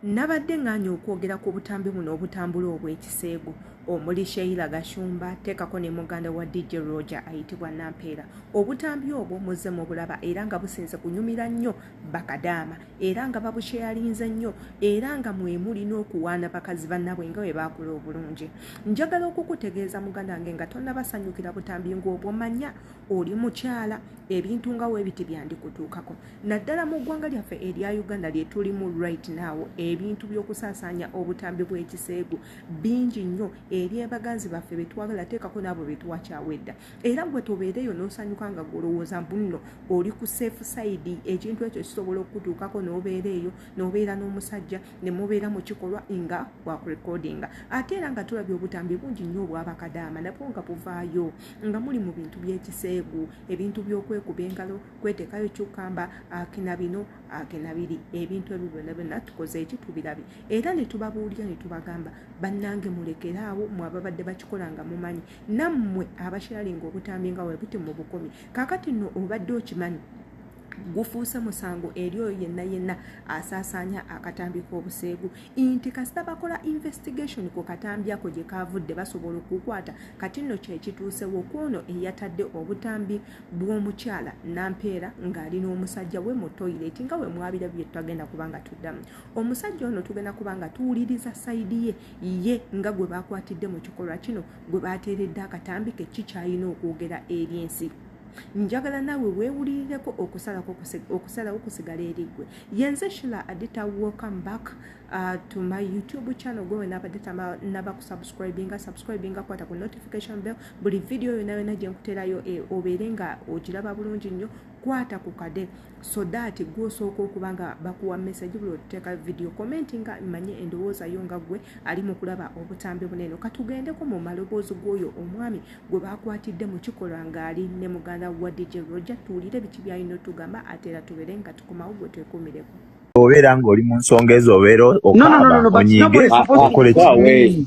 Nabadde ng'anye okwogera ku butambi buno obutambula obw'ekiseegu omuli Sheila Gashumba teekako ne muganda wa DJ Roger ayitibwa Nampeera. Obutambi obwo muzze mubulaba era nga businze kunyumira nnyo bakadaama era nga babusheyalinze nnyo era nga mwe muli n'okuwaana bakazi bannabwe nga bwe baakula obulungi. Njagala okukutegeeza muganda wange nga tonnabasanyukira butambi ng'obwo manya oli mukyala ebintu nga webiti byandikutuukako naddala mu ggwanga lyaffe erya uganda lyetulimu right now ebintu by'okusaasaanya obutambi bw'ekiseegu bingi nnyo eri abaganzi baffe betwagala teekako n'abo betwakyawa edda era gwe tobeereyo n'osanyuka nga gwolowooza mbunno oli ku safe side ekintu ekyo kisobola okukutuukako n'obeera eyo n'obeera n'omusajja ne mubeera mu kikolwa nga wakurekodinga ate era nga tulabye obutambi bungi nnyo obwabakadaama nabwo nga buvaayo nga muli mu bintu by'ekiseegu ebintu by'okwekuba engalo kwetekayo kyukamba akina bino akina biri ebintu ebyo byonna byonna tukoze eki tubirabye era ne tubabuulira ne tubagamba bannange mulekere awo mwe ababadde bakikola nga mumanyi nammwe abakiralinga obutambi nga webuti mu bukumi kakati nno obadde okimanyi gufuuse musango eri oyo yenna yenna asaasaanya akatambi k'obuseegu nti kasita bakola investigation ku katambi ako gye kaavudde basobola okukwata kati nno kyekituusewo kwono eyatadde obutambi bw'omukyala nampeera ng'ali n'omusajja we mu toilet nga we mwabira bye twagenda kuba nga tuddamu omusajja ono tugenda kuba nga tuwuliriza sayidi ye ye nga gwe baakwatidde mu kikolwa kino gwe baateeredde akatambi ke kikyalina okwogera eri ensi njagala naawe weewulirireko okusalako okusalawo kusigala eriggwe yenze shila adita welcome back uh, to my youtube channel gwe wenaabadde tanaba kusubscribinga subscribinga kwata ku notification bell buli vidiyo yona yona gye nkuterayo e, obeere nga ogiraba bulungi nnyo kwata ku kade so that gwe osooka okuba nga bakuwa message buli oteeka video comment nga manye endowooza yo nga gwe ali mu kulaba obutambi bunene katugendeko mu maloboozi g'oyo omwami gwe baakwatidde mu kikolwa ng'ali ne muganda wa dj roger tuwulire biki byalina otugamba ate era tubeere nga tukomawo gwe twekumireko obeera ng'oli mu nsonga ezo obeera okaaba onyiige okole ki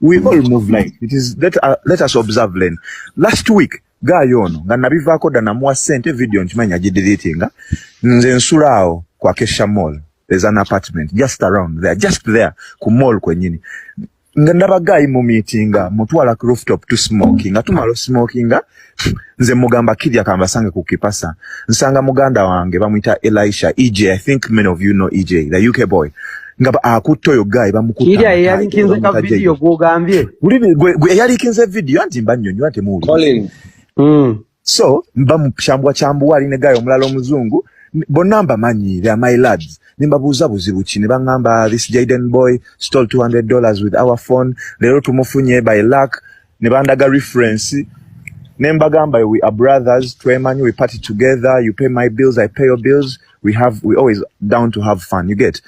we all move like it is let, uh, let us observe len last week gaayo ono nga nabivaako dda namuwa sente video nkimanyi agidilitinga nze nsula awo kwa kesha mall there's an apartment just around there just there ku mall kwenyini nga ndaba gaayi mu meetinga mutwala ku rooftop to smoking nga tumala osmokinga nze mugamba kirya kambasange ku kipasa nsanga muganda wange bamuyita elisha ej i think many of you know ej the uk boy nga akutte oyo guy bamukuteyalikinze ka vidiyo gwogambye eyalikinze vidiyo anti mba nyonyo ate muwuli hmm. so mba mukyambwa kyambuwa ali ne guy omulala omuzungu bonna mbamanyi they're my lads nembabuuza buzibu ki ne baŋŋamba this jaden boy stole 200 dollars with our phone leero tumufunye by luck ne bandaga reference ne mbagamba we are brothers twemanyi we party together you pay my bills i pay your bills we have we always down to have fun you get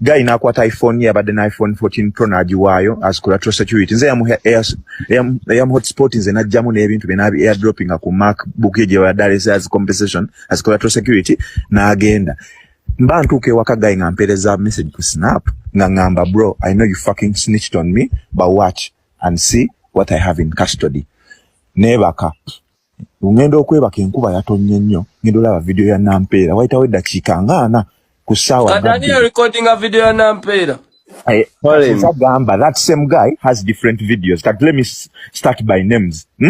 guy nakwata iphone ye abadde na iphone 14 pro nagiwaayo as collateral security nze yam hotspot nze najjamu n'ebintu bye nabi airdropping ku macbook ye gyeyabadde alese as compensation as collateral security n'agenda mba ntuuka ewaka guy nga mpeereza message ku snap nga ngamba bro i know you fucking snitched on me but watch and see what I have in custody nebaka ngenda okwebaka enkuba yatonye nnyo ngenda olaba video ya nampeera wayitawo eddakiika nga ana ku ssaawa eh, agamba that same guy has different videos kati let me start by names hmm?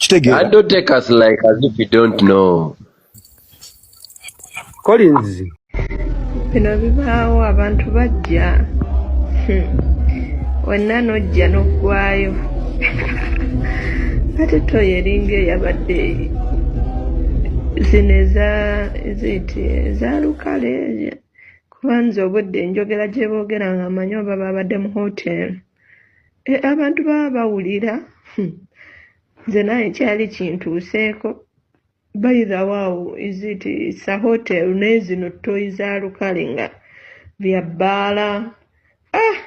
kitegeera don't take us like as if you don't know Collins bino bibaawo abantu bajja wenna nojja noggwayo ate toyo eringa eyabadde zino eza ziiti eza lukale kuba nze obudde enjogera gyeboogera nga manyi oba baabadde mu hoteri Eh, abantu baba bawulira hmm. nze naye kyali kintuuseeko by the wow is it sa hotel nezino toyi za lukale nga bya bbaala ah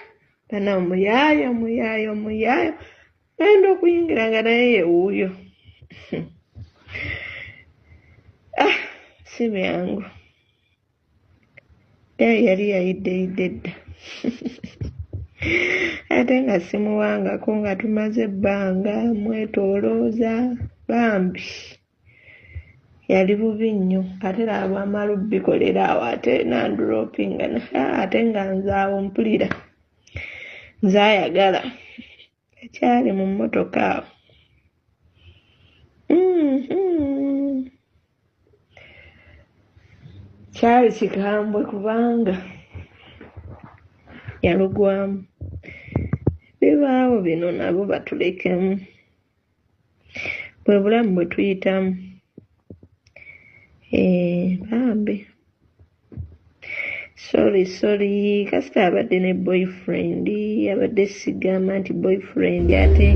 bana omuyaayo omuyaayo omuyaayo ayinda okuyingira nga naye yewuuyo hmm. ah si byangu Eyo yali yayiddeyidde dda ate nga simuwangako nga tumaze ebbanga mwetolooza bambi yali bubi nnyo ate laba bwamala obikolera awo ate nandropingana ate nga nze awo mpulira nze ayagala ekyali mu mmotoka mm-hmm. kyali kikambwe kubanga yalugwamu bibaawo bino nabo batulekemu bwe bulamu bwe tuyitamu eh, bambi sorry sorry kasita abadde ne boyfriend abadde sigamba nti boyfriend ate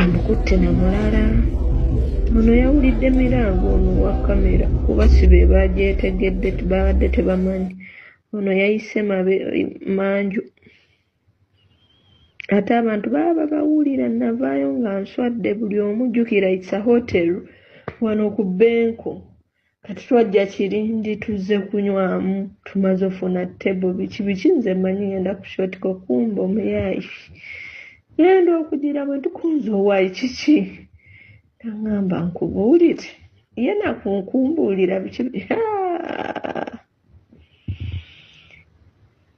amukutte na mulala ono yawulidde mirango ono wa kamera kuba si be bagyetegedde babadde tebamanyi ono yayise manju Ate abantu baba babawulira navaayo nga nswadde buli omu jjukira it's a hotel wano ku benko kati twajja kirindi tuzze kunywamu tumaze ofuna table biki biki nze manyi ngenda ku shotiko kumba omuyaayi ngenda okugira bwe ntukunza owaayi kiki nangamba nkubuulire ye nakunkumbuulira biki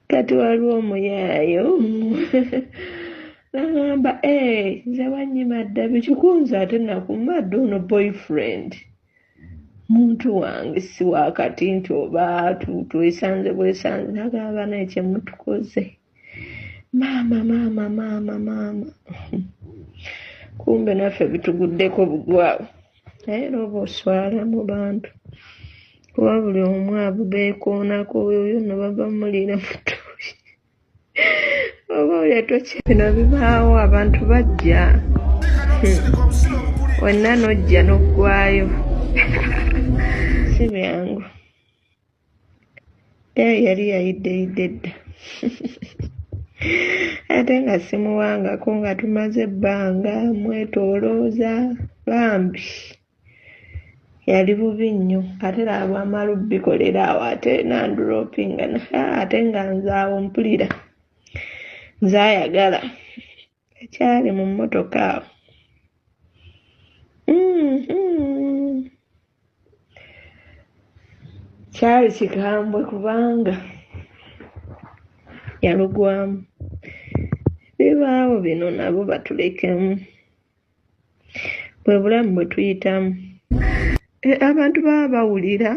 kati waliwo omuyaayo nagamba eh, nze wanyima dda bikikunza ate nakumadde ono boyfriend muntu wange si wakati nti oba twesanze bwesanze nagamba naye kyemutukoze maama maama maama maama kumbe naffe bituguddeko bugwawo naye era oba oswala mu bantu kuba buli omu abo beekoonako oyo yonna bava muliira mutuuyi oba olya tokya bino bibaawo abantu bajja hmm. wenna nojja n'oggwayo si byangu Eyo yali yayiddeyidde dda ate nga simuwangako nga tumaze ebbanga mwetolooza bambi yali bubi nnyo ate lwamala obikolera awo ate nandulopingana ate nga nze awo mpulira nze ayagala ekyali mu mmotoka mm-hmm. kyali kikambwe kubanga yalugwamu bibaawo bino nabo batulekemu bwe bulamu bwe tuyitamu e, abantu baba bawulira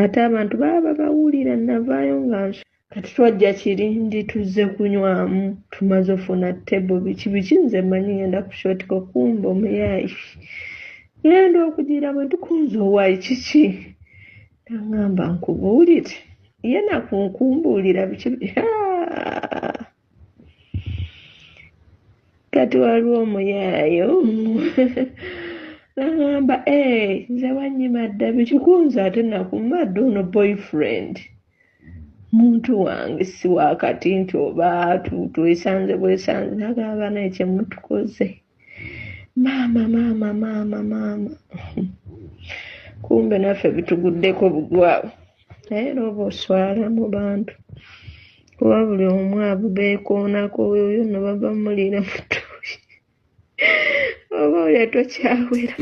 ate abantu baba babawulira navaayo nga nso kati twajja kirindi tuzze kunywamu tumaze ofuna tebo biki biki nze manyi ngenda kushotika okumba omuyayi ngenda okugira bwe tukunza owayi kiki nangamba nkubuulire ye nakunkumbuulira biki kati waliwo omuyaayo nagamba eh, nze wanyima dda bikikunza ate nakumba dda ono boyfriend muntu wange si wakati nti oba twesanze bwesanze nagamba naye kyemutukoze maama maama maama maama kumbe naffe bituguddeko bugwawo naye era oba oswala mu bantu kuba buli omu abubeekoonako oyo yonna baba muliira mutuuyi oba oyo tokyawera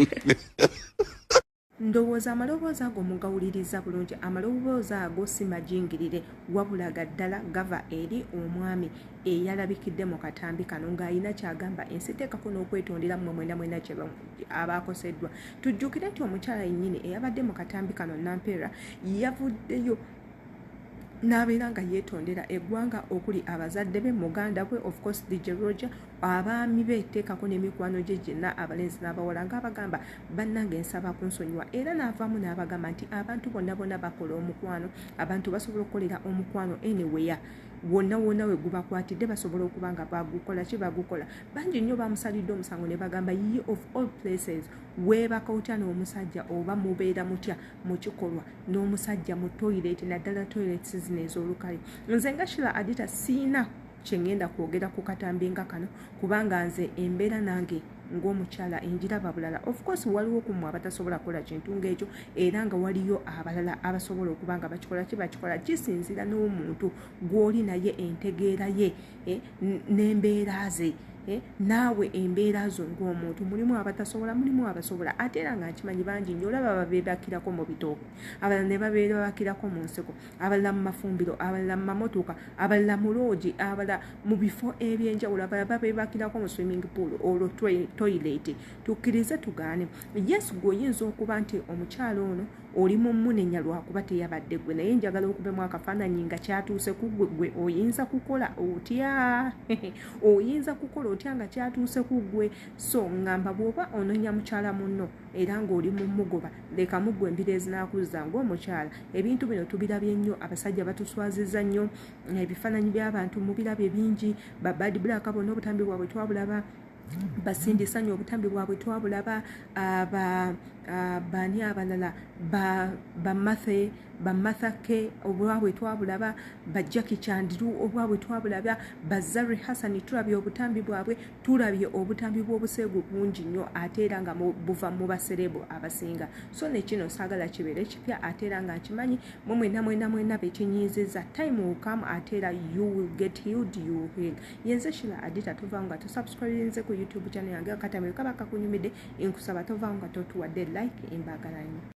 ndowooza amaloboozi ago mugawuliriza bulungi amaloboozi ago si majingirire wabula ga ddala gava eri omwami eyalabikidde mu katambi kano ng'alina kyagamba ensi teekako n'okwetondera mmwe mwena mwena kye abaakoseddwa tujjukire nti omukyala yennyini eyabadde mu katambi kano nampeera yavuddeyo n'abeera nga yeetondera eggwanga okuli abazadde be muganda we of course dj roger abaami be teekako n'emikwano gye gyenna abalenzi n'abawala ng'abagamba bannange nsaba kunsonyiwa era n'avaamu n'abagamba nti abantu bonna bonna bakola omukwano abantu basobola okukolera omukwano anywhere wonna wonna we gubakwatidde basobola okuba nga bagukola ki bagukola bangi nnyo bamusalidde omusango ne bagamba ye of all places weebaka otya n'omusajja oba mubeera mutya mu kikolwa n'omusajja mu toyireti naddala toyireti sizina ez'olukale nze nga shila adita siina kyengenda kwogera ku katambi nga kano kubanga nze embeera nange ng'omukyala enjiraba bulala of course waliwo ku mwe abatasobola kukola kintu ng'ekyo era nga waliyo abalala abasobola okuba nga bakikola ki bakikola kisinzira n'omuntu gw'oli naye entegeera ye eh, n'embeera ze eh, naawe embeera zo ng'omuntu mulimu abatasobola mulimu abasobola ate era nga nkimanyi bangi nyo olaba babeebakirako mu bitooke abalala ne babeebakirako mu nsiko abalala mu mafumbiro abalala mu mamotoka abalala mu loogi abalala mu bifo ebyenjawulo abalala babebakirako mu swimming pool olwo toilet tukkirize tugaane yesu gweoyinza okuba nti omukyalo ono oli mumunenya lwakuba teyabadde gwe naye njagala okubemu akafaananyi nga kyatuuse ku gwe gwe oyinza kukola otya oyinza kukola otya nga kyatuuse ku gwe so ngamba bwoba ononya mukyala munno era ng'oli mu mugoba leka muggwe embira ezinakuzza ng'omukyala ebintu bino tubirabye nnyo abasajja batuswaziza nnyo ebifaananyi by'abantu mubirabye bingi babad black bona obutambi bwabwe twabulaba basindisa nnyo obutambi bwabwe twabulaba bani abalala bamathe bamathake obwabwe twabulaba bajaki kyandiru obwabwe twabulaba bazari hassani tulabye obutambi bwabwe tulabye obutambi bw'obuseegu bungi nnyo ate era nga buva mu basereebu abasinga so nekino saagala kibeere kipya ate era nga nkimanyi mwe mwena mwena mwena bekinyiiziza time will come ate era you will get healed you will heal yenze shila adita tova nga tusubscribinze ku youtube channel yange akatamiro kaba kakunyumidde nkusaba tova nga totuwadde like embagala nnyo